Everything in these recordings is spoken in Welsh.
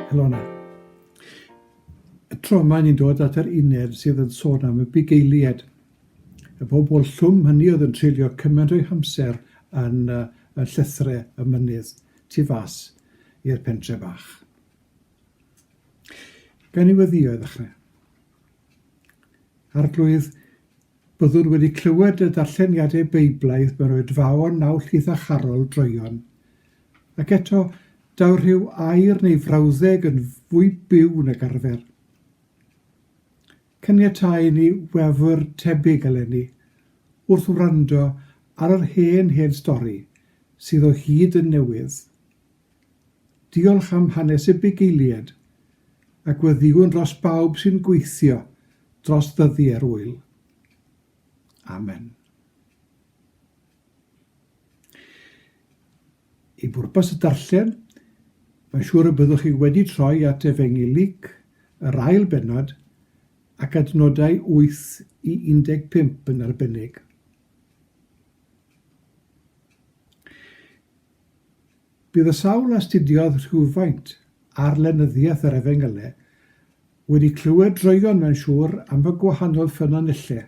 Helona. Y tro yma ni'n dod at yr uned sydd yn sôn am y bugeiliad. Y bobl llwm hynny oedd yn treulio cymaint o'i hamser yn, uh, yn llythre y mynydd tu fas i'r pentre bach. Gan i weddio i ddechrau. Arglwydd, Byddwn wedi clywed y darlleniadau Beiblaidd mewn oedfaon naw llith a charol droeon. Ac eto, daw'r rhyw air neu frawddeg yn fwy byw nag arfer. Caniatáu i ni wefr tebyg eleni, wrth wrando ar yr hen hen stori, sydd o hyd yn newydd. Diolch am hanes y bugeiliaid, a gweddïwn dros bawb sy'n gweithio dros ddyddiau'r ŵyl. Amen. I bwrpas y darllen, mae'n siŵr y byddwch chi wedi troi at Efengyl Luc, yr ail bennod, ac adnodau 8 i 15 yn arbennig. Bydd y sawl a astudiodd rhywfaint ar lenyddiaeth yr Efengylau wedi clywed droeon mae'n siŵr am y gwahanol ffynonellau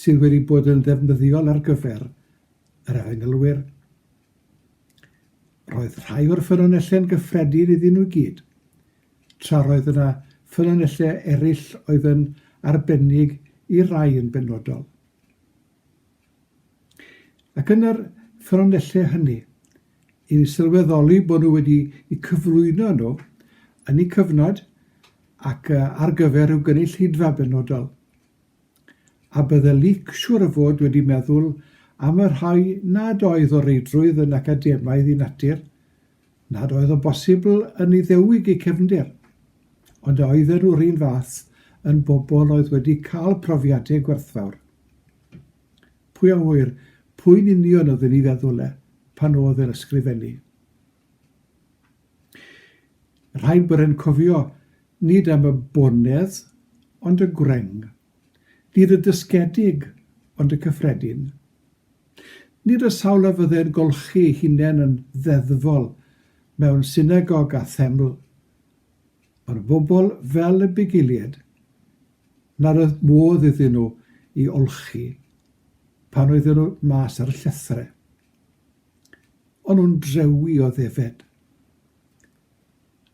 sydd wedi bod yn ddefnyddiol ar gyfer yr Efengylwyr. Roedd rhai o'r ffynonellau'n gyffredin iddyn nhw i gyd, tra roedd yna ffynonellau eraill oedd yn arbennig i rai yn benodol. Ac yn yr ffynonellau hynny, i ni sylweddoli bod nhw wedi eu cyflwyno nhw yn eu cyfnod ac ar gyfer rhyw gynulleidfa benodol. A bydde Luc siŵr o fod wedi meddwl am y rhai nad oedd o reidrwydd yn academaidd i natur, nad oedd o bosibl yn Iddewig eu cefndir, ond a oedden nhw'r un fath yn bobl oedd wedi cael profiadau gwerthfawr. Pwy a ŵyr, pwy'n union oedd yn ei feddwl e, pan oedd e'n ysgrifennu? Rhaid bod e'n cofio, nid am y bonedd, ond y gwreng. Nid y dysgedig, ond y cyffredin. Nid y sawl a fydde'n golchi ei hunain yn ddeddfol mewn synagog a theml, ond y bobl fel y bugeiliaid, Nad oedd modd iddyn nhw i olchi pan oedden nhw mas ar y llethrau. O'n nhw'n drewi o ddefed.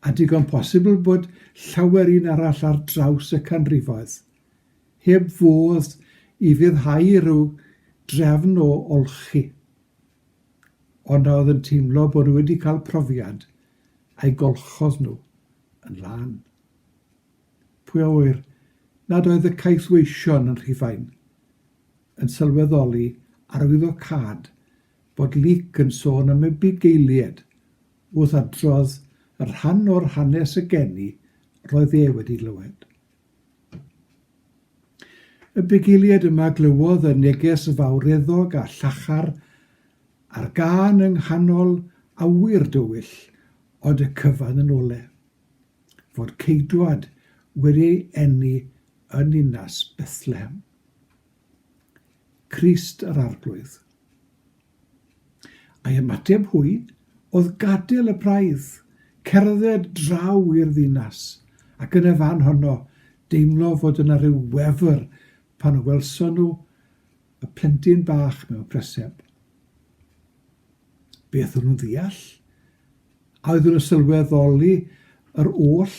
A digon posibl bod llawer un arall ar draws y canrifoedd, heb fodd i fyddhau rhyw drefn o olchi. Ond a oedd yn teimlo bod nhw wedi cael profiad a'i golchodd nhw yn lân. Pwy a ŵyr nad oedd y caethweision yn Rhufain yn sylweddoli arwyddocâd bod Luc yn sôn am y bugeilied wrth adrodd y rhan o'r hanes y geni roedd e wedi glywed. Y bugeilied yma glywodd y neges fawreddog a llachar a'r gân yng nghanol awyr dywyll ond y cyfan yn ole. fod ceidwad wedi ei eni yn ninas Bethlehem, Crist yr Arglwydd. A'i ymateb hwy oedd gadael y braidd, cerdded draw i'r ddinas, ac yn y fan honno deimlo fod yna rhyw wefr pan y welson nhw y plentyn bach mewn preseb. Beth o'n nhw'n ddeall? a oeddwn yn sylweddoli yr oll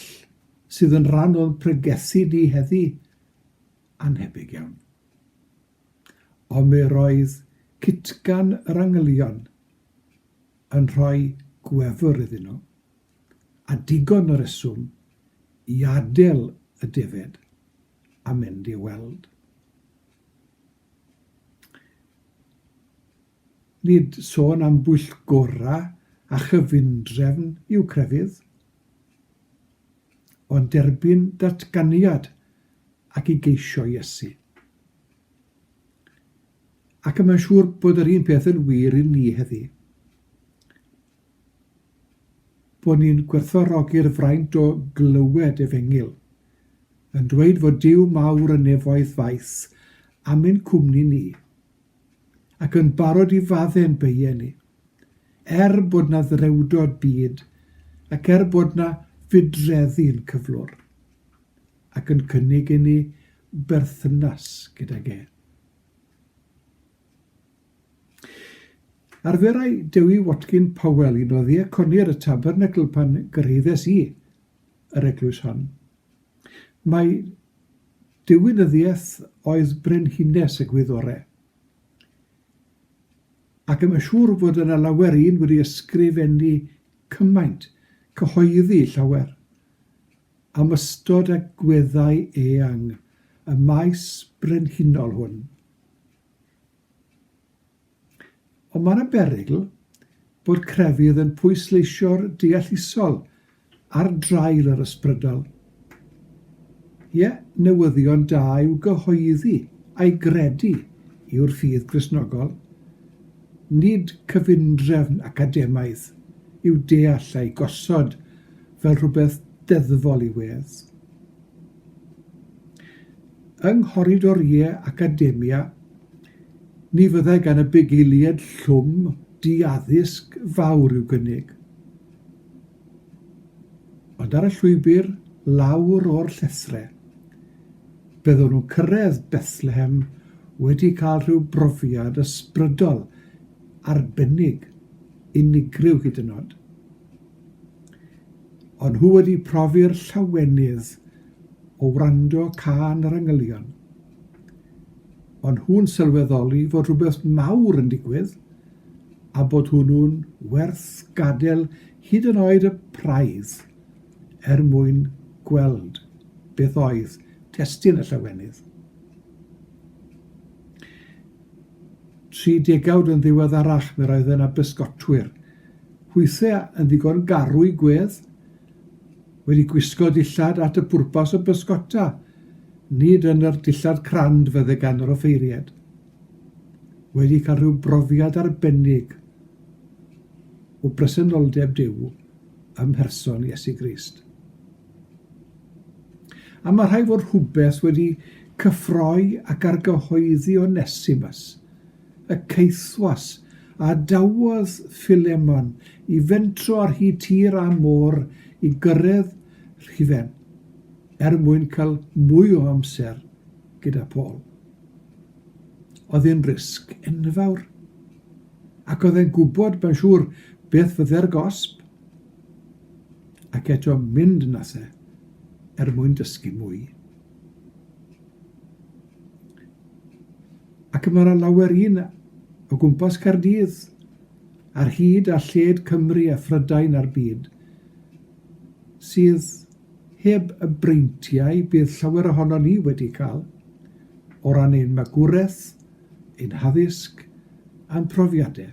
sydd yn rhan o'n pregethu ni heddi, anhebyg iawn. Ond mi roedd citgan yr angylion yn rhoi gwefr iddyn nhw, a digon o reswm i adael y defaid a mynd i weld. Nid sôn am bwyllgorau a chyfundrefn yw crefydd, ond derbyn datganiad ac i geisio Iesu. Ac y mae'n siŵr bod yr un peth yn wir i ni heddi. Bod ni'n gwerthfawrogi'r fraint o glywed efengyl, yn dweud fod Duw mawr y nefoedd faith am ein cwmni ni, ac yn barod i fadde'n beie ni. Er bod 'na ddrewdod byd, ac er bod 'na fydreddi'n cyflwr, ac yn cynnig i ni berthynas gydag e. Arferai Dewi Watkin Powell un o ddiaconi'r y tabernacl pan gyrhaeddes i yr eglwys hon. Mae Diwinyddiaeth oedd Brenhines y Gwyddore. Ac yn siŵr fod yna lawer un wedi ysgrifennu cymaint, cyhoeddi llawer, am ystod a gweddau eang y maes brenhinol hwn. Ond mae yna berygl bod crefydd yn pwysleisio'r deallusol ar draul yr ysbrydol. Ie, newyddion da yw gyhoeddi a'i gredu yw'r ffydd Gristnogol. Nid cyfundrefn academaidd yw deall a'i gosod fel rhywbeth deddfol i wedd. Yng nghoridoriau academia, Ni fyddai gan y bugeiliaid llwm di-addysg fawr i'w gynnig. Ond ar y llwybr lawr o'r llethrau, byddwn nhw'n cyrraedd Bethlehem wedi cael rhyw brofiad ysbrydol, arbennig, unigryw hyd yn oed. Ond nhw wedi profi'r llawenydd o wrando cân yr angylion. ond nhw'n sylweddoli fod rhywbeth mawr yn digwydd a bod hwnnw'n werth gadael hyd yn oed y praidd er mwyn gweld beth oedd testun y llawenydd. Tri degawd yn ddiweddarach, mi roedd yna bysgotwyr, hwythau yn ddigon garw i gwedd, Wedi gwisgo dillad at y pwrpas o bysgota, nid yn yr dillad crand fydde gan yr offeiried. Wedi cael rhyw brofiad arbennig o bresenoldeb Duw ym mherson Iesu Grist. A mae rhai fod rhywbeth wedi cyffroi ac argyhoeddi Onesimus, y caethwas, a dawodd Philemon i fentro ar hyd tir a môr i gyrraedd rhifen, er mwyn cael mwy o amser gyda Paul. Oedd yn risg enfawr, ac oedd e'n gwybod, mae'n siŵr, beth fydde'r gosb. Ac eto mynd nathe, er mwyn dysgu mwy. Ac mae yna lawer un o gwmpas Caerdydd, ar hyd a lled Cymru a Phrydain a'r byd, sydd heb y breintiau bydd llawer ohonon ni wedi cael, o ran ein magwraeth, ein haddysg a'n profiadau.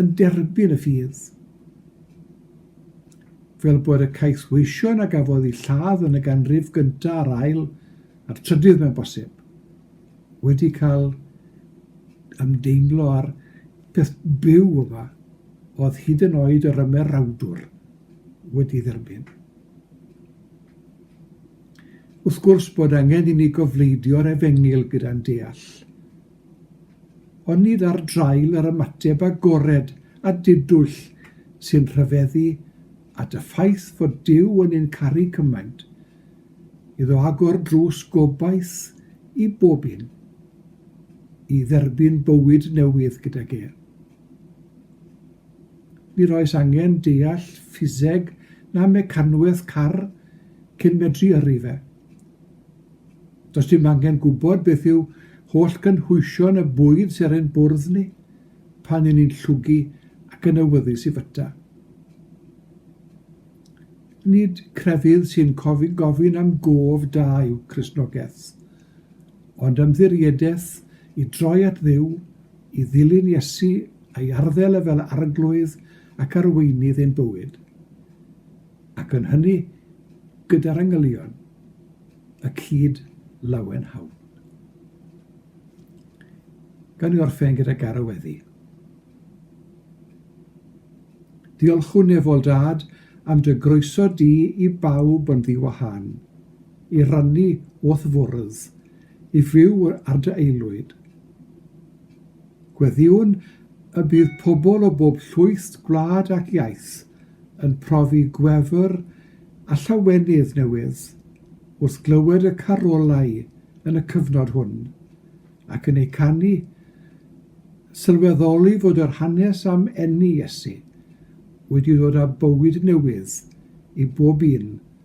yn derbyn y ffydd. Fel bod y caethweision a gafodd eu lladd yn y ganrif gyntaf a'r ail a'r trydydd mewn bosib wedi cael ymdeimlo ar peth byw yma oedd hyd yn oed yr ymerawdwr wedi dderbyn. Wrth gwrs bod angen i ni gofleidio'r efengyl gyda'n deall, ond nid ar draul yr ymateb agored a didwyll sy'n rhyfeddu at y ffaith fod Duw yn ein caru cymaint, iddo agor drws gobaith i bob un, i dderbyn bywyd newydd gydag e. Nid oes angen deall ffiseg na mecanwaith car cyn medru yrru fe. Does dim angen gwybod beth yw holl gynhwysion y bwyd sy'n ein bwrdd ni pan yn ni'n llwgu ac yn awyddus i fyta. Nid crefydd sy'n gofyn am gof da yw Cristnogaeth, ond ymddiriedaeth i droi at Dduw, i ddilyn Iesu a'i arddel e fel Arglwydd ac Arweinydd ein bywyd. ac yn hynny gyda'r angylion y cyd lawen hawn. Gawn ni orffen gyda Gara Weddi. Diolchwn nefol dad am dy groeso di i bawb yn ddiwahân, i rannu o'th fwrdd, i fyw ar dy aelwyd. Gweddiwn y bydd pobl o bob llwyth gwlad ac iaith yn profi gwefr a llawenydd newydd wrth glywed y carolau yn y cyfnod hwn, ac yn eu canu, sylweddoli fod yr hanes am eni Iesu wedi dod â bywyd newydd i bob un